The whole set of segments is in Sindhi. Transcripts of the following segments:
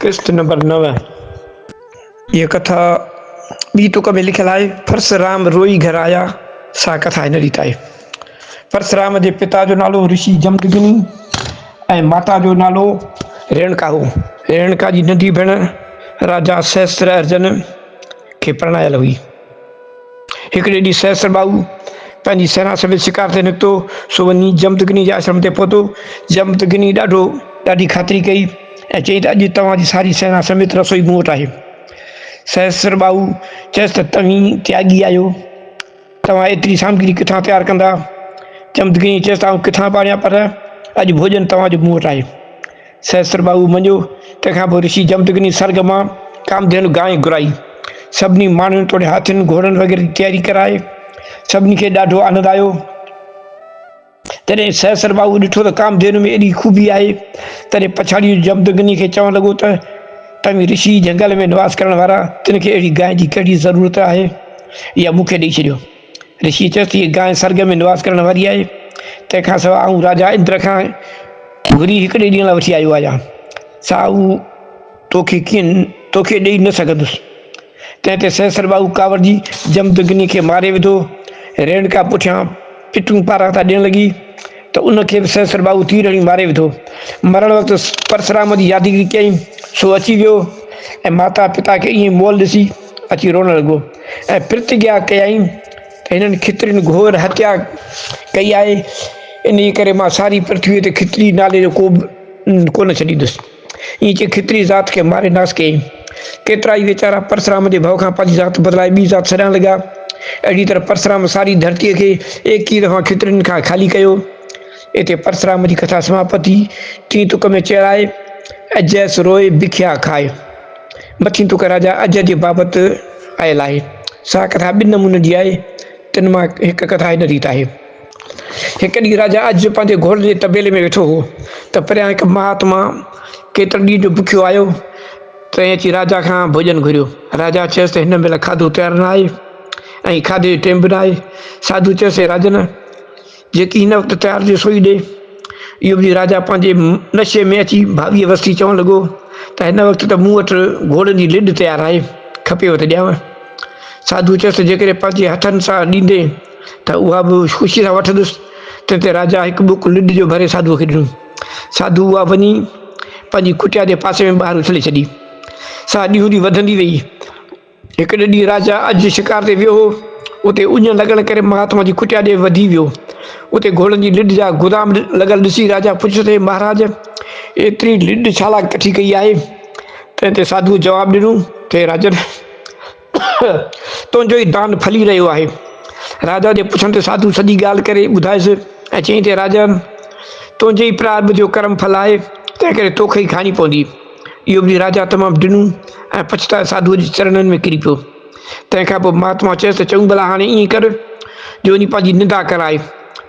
قسط نمبر نو، هيء ڪٿا ٻي ٽوڪ ۾ لکيل آهي، پرسرام روئي گهر آيا، سا ڪٿا هن ريت آهي، پرسرام جي پتا جو نالو رشي جمدگني ۽ ماتا جو نالو ريڻڪا هو. ريڻڪا جي ننڍي ڀيڻ راجا سهسترارجن کي پرڻايل هئي. هڪڙي ڏينهن سهسر ٻائو پنهنجي سينا سميت شڪار تي نڪتو، سو وڃي جمدگني جي آشرم تي پهتو. جمدگني ڏاڍو ڏاڍي خاطري ڪئي ۽ چيائين ته اڄ توهان جي ساري سينا سميت رسوئي مون وٽ آهي. سهسر ٻائو چيس ته توهين تياڳي آهيو، توهان ايتري سامگري ڪٿان تيار ڪندا؟ جمدگني چيس ته آئون ڪٿان به آڻيان پر اڄ ڀوڄن توهان جو مون وٽ آهي. سهسر ٻاهو مڃيو، تنهن کان پوء رشي جمدگني سرڳ مان ڪامڌينو گانء گهرائي، سڀني ماڻهن توڙي هاٿين گهوڙن وغيره جي تياري ڪرائي، سڀني کي ڏاڍو آنند آيو، جڏهن سهسر ٻاهو ڏٺو ته ڪامڌينو ۾ ايڏي خوبي آهي، تڏهن پڇاڙيو جمدگني کي چوڻ لڳو ته، توهين رشي جهنگل ۾ نواس ڪرڻ وارا، تن کي اهڙي گانء جي ڪهڙي ضرورت آهي، اها مون کي ڏئي ڇڏيو. رشي چيس، هيء گانء سرڳ ۾ نواس ڪرڻ واري آهي، تنهن کان سواء آئون راجا اندر کان گهري هڪڙي ڏينهن لاء وٺي آيو آهيان، سا هو تو کي ڪين تو کي ڏيئي نه سگهندس. تنهن تي سهسر ٻاهو ڪاوڙجي جمدگني کي ماري وڌو. ريڻڪا پٺيان پٽون پاران ٿا ڏيڻ لڳي ته ان کي به سهسر ٻاهو تير هڻي ماري وڌو. مرڻ وقت پرسرام جي يادگيري ڪيائين، سو اچي ويو ۽ ماتا پتا کي ائين مئل ڏسي، اچي روئڻ لڳو ۽ پرتگيا ڪيائين ته هنن کترين گهور هتيا ڪئي آهي، انهيء ڪري مان ساري پرٿويء تي کتري نالي جو ڪوبه ڪونه ڇڏيندس. ائين چئي کتري ذات کي ماري ناس ڪيائين. ڪيترائي ويچارا پرسرام جي ڀؤ کان پنهنجي ذات بدلائي ٻي ذات سڏائڻ لڳا. اهڙيء طرح پرسرام ساري ڌرتيء کي ايڪيهه دفعا کترين کان خالي ڪيو. اتي پرسرام جي ڪٿا سماپت ٿي. ٽين تڪ ۾ چيرائي ۽ جئس روئي بکيا کائي. مٿين ٽڪرا جا اجهه جي بابت آيل آهي. سا ڪٿا ٻن نمونن جي آهي، تن مان هڪ ڪٿا هن ريت آهي. هڪ ڏينهن راجا اجهه پنهنجي گهوڙن جي طبيلي ۾ ويٺو هو ته پريان هڪ مهاتما ڪيترن ڏينهن جو بکيو آيو تنهن اچي راجا کان ڀوڄن گهريو. راجا چيس ته هن مهل کاڌو تيار نه آهي ۽ کاڌي جو ٽيم به نه آهي. ساڌو چيس اي راجن! جيڪي هن وقت تيار ٿيو سوئي ڏي. اهو ٻڌي راجا پنهنجي نشي ۾ اچي ڀاڳيء وسي چوڻ لڳو ته هن وقت ته مون وٽ گهوڙن جي لڏ تيار آهي، کپيو ته ڏيانء. ساڌوء چيس ته جيڪڏهن پنهنجي هٿن سان ڏيندين ته اها به خوشيء سان وٺندس. تنهن تي راجا هڪ ٻڪ لڏ جو ڀري ساڌوء کي ڏنو. ساڌوء اها وڃي پنهنجي ڪٽيا جي پاسي ۾ ٻاهر اڇلي ڇڏي. سا ڏينهون ڏينهن وڌندي ويئي. هڪڙي ڏينهن راجا اجهه شڪار تي ويو هو. اتي اڃ لڳڻ ڪري مهاتما جي ڪٽيا ڏي وڌي ويو. اتي گهوڙن جي لڏ جا گدام لڳل ڏسي راجا پڇيس اي مهاراج! ايتري لڏ ڇا لاء ڪٺي ڪئي آهي؟ تنهن تي ساڌوء جواب ڏنو ته اي راجن! تنهنجو ئي دان ڦلي رهيو آهي. راجا جي پڇڻ تي ساڌوء سڄي ڳالهه ڪري ٻڌائيس ۽ چيائين ته اي راجن! تنهنجي ئي پرارڀ جو ڪرم ڦل آهي، تنهنڪري توکي ئي کائڻي پوندي. اهو ٻڌي راجا تمام ڊنو ۽ پڇتائي ساڌوء جي چرنن ۾ ڪري پيو. تنهن کان پوء مهاتما چيس ته چڱو ڀلا هاڻي ائين ڪر جو وڃي پنهنجي ننڊا ڪراء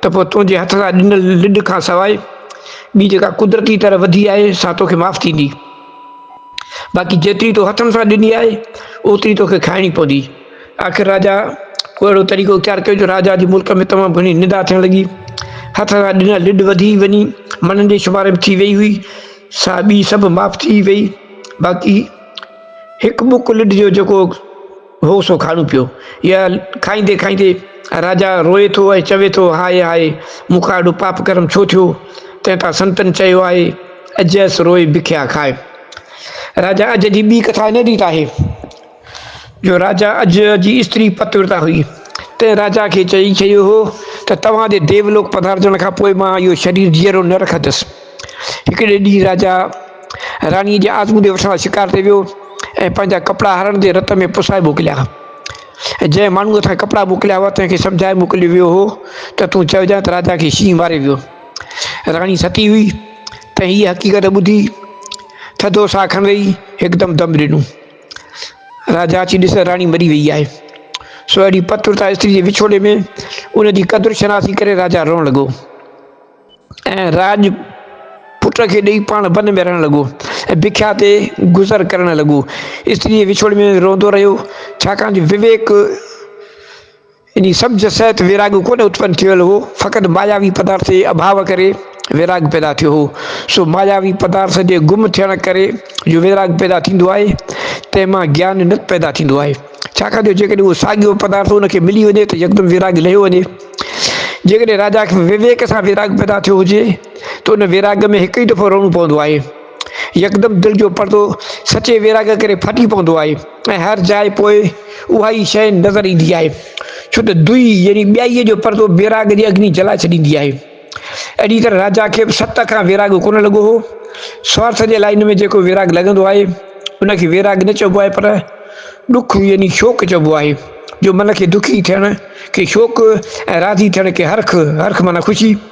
ته پوء تنهنجي هٿ سان ڏنل لڏ کان سواء ٻي جيڪا قدرتي طرح وڌي آهي سا توکي معاف ٿيندي باقي جيتري تو هٿن سان ڏني آهي اوتري توکي کائڻي پوندي. آخر راجا پوء اهڙو طريقو اختيار ڪيو جو راجا جي ملڪ ۾ تمام گهڻي ننڊا ٿيڻ لڳي. هٿ سان ڏنل لڏ وڌي وڃي مڻن جي شمار ۾ ٿي ويئي هئي. سا ٻي سڀ معاف ٿي وئي، باقي هڪ ٻڪ لڊ جو جيڪو هو سو کاڻو پيو. اها کائيندي کائيندي راجا روئي ٿو ۽ چوي ٿو، هاء هاء! مون کان اهڙو پاپ ڪرم ڇو ٿيو؟ تنهن تان سنتن چيو آهي، اجهس روئي بکيا کاء. راجا اجهه جي ٻي ڪٿا هن ريت آهي. جو راجا اڄ جي استري پتورتا هئي، تنهن راجا کي چئي ڇڏيو هو ته توهان جي ديولوڪ پڌارجڻ کان پوء مان اهو شرير جيئرو نه رکندس. هڪڙي ڏينهن راجا راڻيء جي آزموني وٺڻ لاء شڪار تي ويو ۽ پنهنجا ڪپڙا هرڻ جي رت ۾ پسائي موڪليا. جنهن ماڻهوء هٿان ڪپڙا موڪليا هئا، تنهن کي سمجهائي موڪليو ويو هو ته تون چئجانء ته راجا کي شينهن ماري ويو. راڻي ستي هئي، تنهن هيء حقيقت ٻڌي ٿڌو ساهه کڻندي هڪدم دم ڏنو. راجا اچي ڏسي ته راڻي مري ويئي آهي. سو اهڙي پت ورتا استري جي وڇوڙي ۾ ان جي قدر شناسي ڪري راجا روئڻ لڳو ۽ راڄ پٽ کي ڏيئي پاڻ ون ۾ رهڻ لڳو ۽ بکيا تي گذر ڪرڻ لڳو استري جي وڇوڙي ۾ روئندو رهيو ڇاڪاڻ جو وويڪ انهي سبز سهت ويراڳ ڪونه اتپن ٿيل هو، فقط ماياوي پدارٿ جي اڀاء ڪري ويراڳ پيدا ٿيو هو. سو ماياوي پدارٿ جي گم ٿيڻ ڪري جو ويراڳ پيدا ٿيندو آهي، تنهن مان گيان نت پيدا ٿيندو آهي. ڇاڪاڻ جو جيڪڏهن اهو ساڳيو پدارٿ ان کي ملي وڃي ته يڪدم ويراڳ لهيو وڃي. جيڪڏهن راجا کي وويڪ سان ويراڳ پيدا ٿيو هجي ته ان ويراڳ ۾ هڪ ئي دفعو رئڻو پوندو آهي. يڪدم دل جو پردو سچي ويراڳ ڪري ڦٽي پوندو آهي ۽ هر جاء پوء اها ئي شيء نظر ايندي آهي، ڇو ته دوئي يعني ٻيائيء جو پردو ويراڳ جي اگني جلائي ڇڏيندي آهي. اهڙيء طرح راجا کي به ست کان ويراڳ ڪونه لڳو هو. سوارٿ جي لائين ۾ جيڪو ويراڳ لڳندو آهي، ان کي ويراڳ نه چئبو آهي پر ڏک يعني شوق چئبو آهي، جو من کي دکي ٿيڻ کي شوق ۽ راضي ٿيڻ کي هرک، هرک معنيٰ خوشي.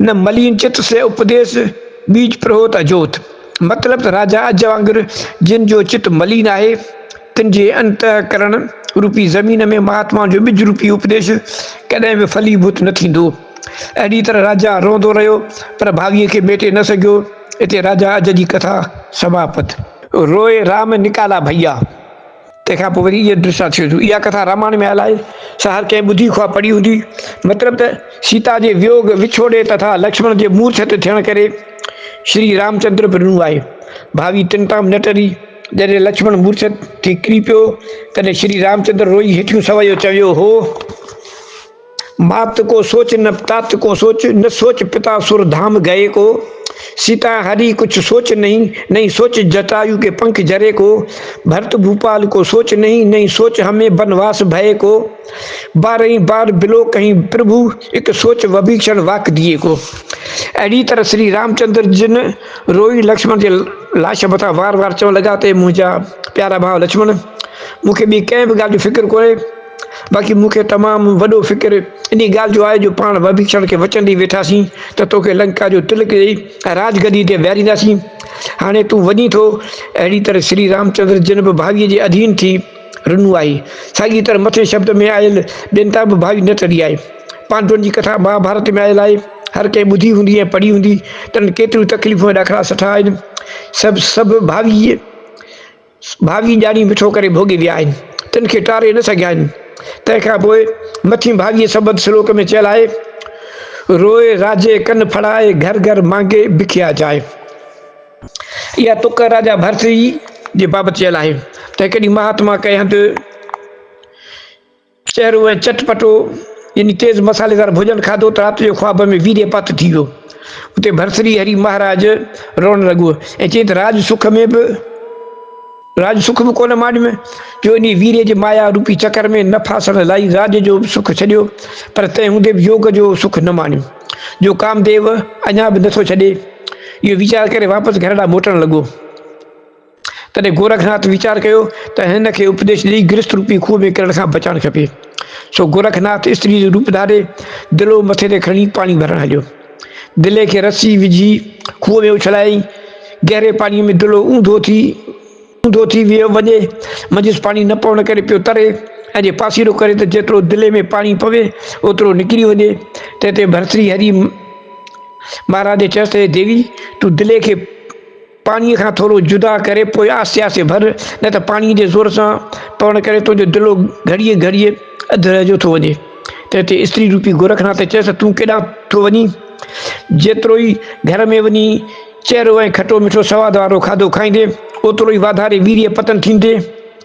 نه ملين چت سي اپديس، ٻيج پرهوت اجوت. مطلب ته راجا اج وانگر جن جو چت ملين آهي، تن جي انته ڪرڻ روپي زمين ۾ مهاتمائن جو ٻج روپي اپديش ڪڏهن به ڦلي ڀوت نه ٿيندو. اهڙي طرح راجا روئندو رهيو، پر ڀاڳي کي ميٽي نه سگهيو. اتي راجا اج جي ڪٿا سماپت. روئي رام نڪالا ڀئيا. تنهن کان پوء وري ايئن ڏسان ٿيو جو اها ڪٿا رامائڻ ۾ آيل آهي، سا هر ڪنهن ٻڌي خواه پڙهي هوندي. مطلب ته سيتا جي ويوڳ، وڇوڙي تٿا لڪشمڻ جي مورڇت ٿيڻ ڪري شري رامچندر به رنو آهي. ڀاوي تن تام نه ٽري، جڏهن لڪشمڻ مورڇت ٿي ڪري پيو، تڏهن شري رامچندر روئي هيٺيون سوئيو چويو هو. مات ڪو سوچ نه پتات ڪو سوچ، نه سوچ پتا سر ڌام گئي ڪو، سيتا هري ڪڇ سوچ نهين، نهين سوچ جٽايو ڪي پنک جري ڪو، ڀرت ڀوپال ڪو سوچ نهين، نهين سوچ همي بنواس ڀئي ڪو، بارهين بار بلو ڪهين پرڀو، اڪ سوچ وڀيکشڻ واڪ ڌيئي ڪو. اهڙي طرح شري رامچندر جن روئي لڪشمڻ جي لاش مٿان وار وار چوڻ لڳا ته اي منهنجا پيارا ڀاء لڪشمڻ! مون کي ٻي ڪنهن به ڳالهه جو فڪر ڪونهي، باقي مون کي تمام وڏو فڪر انهيء ڳالهه جو آهي جو پاڻ وڀيشڻ کي وچن ڏئي ويٺا سين ته توکي لنڪا جو تلڪ ڏئي راڄ گديء تي ويهارينداسين. هاڻي تون وڃين ٿو. اهڙيء طرح شري رامچندر جن به ڀاويء جي اڌين ٿي رنو آهي، ساڳيء طرح مٿئين شبد ۾ آيل ٻين تان به ڀاوي نه ٽري آهي. پانڊون جي ڪٿا مهاڀارت ۾ آيل آهي، هر ڪنهن ٻڌي هوندي ۽ پڙهي هوندي. تنهن ڪيتريون تڪليفون ۽ ڏاکڙا سٺا آهن. سڀ سڀ ڀاويء. ڀاڳي ڄاڻي مٺو ڪري ڀوڳي ويا آهن، تن کي ٽاري نه سگهيا آهن. تنهن کان پوء مٿين ڀاڳي سبد سلوڪ ۾ چيل آهي، روئي راجي ڪن ڦڙائي، گهر گهر مانگي بکيا جائي. اها تڪ راجا ڀرٿري جي بابت چيل آهي. تنهن ڪڏهن مهاتما ڪئي هنڌ. چهرو ۽ چٽ پٽو يعني تيز مصالحيدار ڀوڄن کاڌو ته رات جو خواب ۾ ويريء پت ٿي ويو. اتي ڀرٿري هري مهاراج روئڻ لڳو ۽ چيائين ته راڄ سک ۾ به راڄ سک به ڪونه ماڏ ۾ جو انهيء ويريء جي مايا روپي چڪر ۾ نه ڦاسڻ لاء راڄ جو به سک ڇڏيو پر تنهن هوندي به يوگ جو سک نه ماڻيو جو ڪامديو اڃا به نٿو ڇڏي. اهو ويچار ڪري واپس گهر ڏانهن موٽڻ لڳو. تڏهن گورکناٿ ويچار ڪيو ته هن کي اپديش ڏئي گرست روپي کوهه ۾ ڪرڻ کان بچائڻ کپي. سو گورکناٿ استريء جو روپ ڌاري دلو مٿي تي کڻي پاڻي ڀرڻ هليو. دلي کي رسي وجهي کوهه ۾ اڇلايائين. گهري پاڻيء ۾ دلو اونڌو ٿي اونڌو ٿي ويو وڃي. منجهس پاڻي نه پوڻ ڪري پيو تري ۽ جي پاسيرو ڪري ته جيترو دلي ۾ پاڻي پوي اوترو نڪري وڃي. تنهن تي ڀرتري هري مهاراج چيس ته اي ديوي! تون دلي کي. پاڻيء کان ٿورو جدا ڪري پوء آهستي آهستي ڀر، نه ته پاڻيء جي زور سان پوڻ ڪري تنهنجو دلو گهڙيء گهڙيء اڌ رهه جو ٿو وڃي. تنهن تي استري روپي گورکناٿ چيس ته تون ڪيڏانهن ٿو وڃين؟ جيترو ئي گهر ۾ وڃي چهرو ۽ کٽو مٺو سواد وارو کاڌو کائيندين، اوترو ئي واڌاري ويريء پتن ٿيندين.